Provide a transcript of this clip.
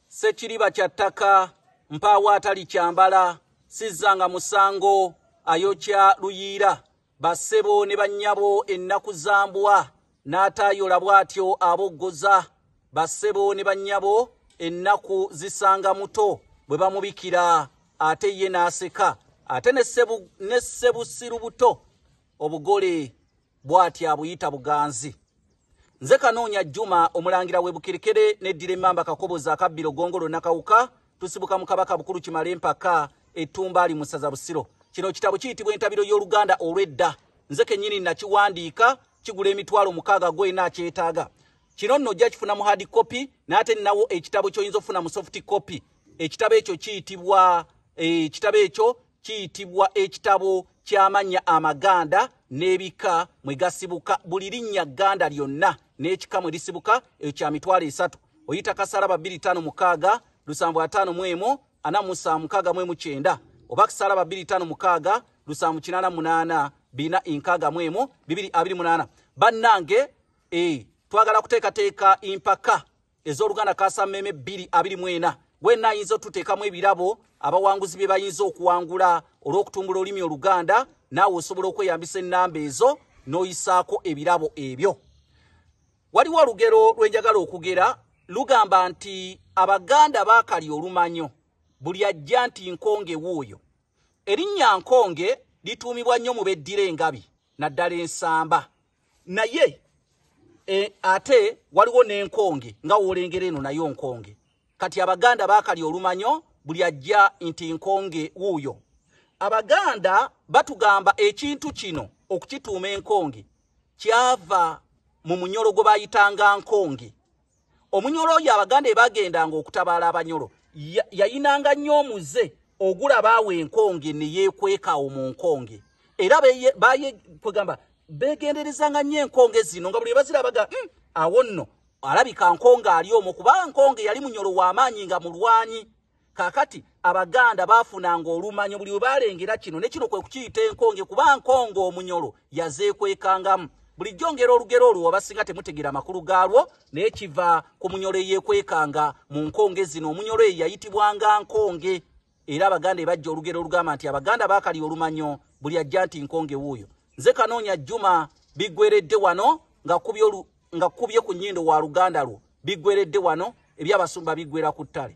Ssekiriba kya ttaka mpaawo atalikyambala sizzanga musango ayokya luyiira bassebo ne bannyabo ennaku za mbwa n'ataayola bw'atyo aboggoza bassebo ne bannyabo ennaku zisanga muto bwe bamubikira ate ye n'aseka ate ne ssebusiru buto obugole bwati abuyita buganzi nze kanoonya juma omulangira webukerekere neddira emamba kakobozi akabbiro gongolo nakawuka tusibuka mu kabaka bukulu kimale empaka etumba ali musaza busiro kino kitabo kiyitibwa entabiro y'oluganda olw'edda nze kenyini nakiwandiika kigula emitwalo mukaaga gwena akyetaaga kino nno ojja kifuna mu hard copy naate ninawo ekitabo kyoyinza okufuna mu soft copy ekitabo ekyo kiyitibwa eh, ekitabo ekyo kiyitibwa ekitabo ky'amannya amaganda n'ebika mwe gasibuka buli linnya gganda lyonna n'ekika mwe lisibuka ekyo kya mitwalo esatu oyita kasalaba bbiri ttaano mukaaga lusanvu ataano mu emu ana musa mukaaga mu emu kyenda oba kasalaba bbiri ttaano mukaaga lusanvu kinaana munaana bina enkaaga mu emu bibiri abiri munaana bannange e twagala kuteekateeka empaka ez'oluganda kasameeme bbiri abiri mu ena wenna ayinza otuteekamu ebirabo abawanguzi bye bayinza okuwangula olw'okutumbula olulimi oluganda naawe osobola okweyambisa ennamba ezo n'oyisaako ebirabo ebyo waliwo olugero lwenjagala okugera lugamba nti abaganda baakali olumanyo buli ajja nti nkonge wuuyo erinnya nkonge lituumibwa nnyo mu beddira engabi naddala ensamba naye e, ate waliwo n'enkonge nga woolengera eno nayo nkonge kati abaganda baakali olumanyo buli ajja nti nkonge wuuyo abaganda batugamba ekintu kino okukituuma enkonge kyava mu munyolo gwe bayitanga nkonge omunyolo oyo abaganda ebagendanga okutabaala abanyolo yayinanga nnyo omuze ogulaba awo enkonge neyekwekaawo mu nkonge era kwegamba begenderezanga nnyo enkonge zino nga buli ebazirabaga hmm, awo nno alabika nkonge ali omu kubanga nkonge yali munyolo w'amaanyi nga mulwanyi kakati abaganda baafunanga olumanyo buli webaalengera kino ne kino kwe kukiyita enkonge kuba nkonge omunyolo yazeekwekangamu bulijjo ngera olugero olwo wabasinga temutegera amakulu gaalwo naye kiva ku munyolo eyeekwekanga mu nkonge zino omunyolo eyo yayitibwanga nkonge era abaganda ebajja olugero olugamba nti abaganda baakali olumanyo buli ajja nti nkonge wuuyo nze kanoonya jjuma biggweredde wano nga kubye ku nnyindo wa luganda lwo biggweredde wano ebyabasumba biggwera ku ttale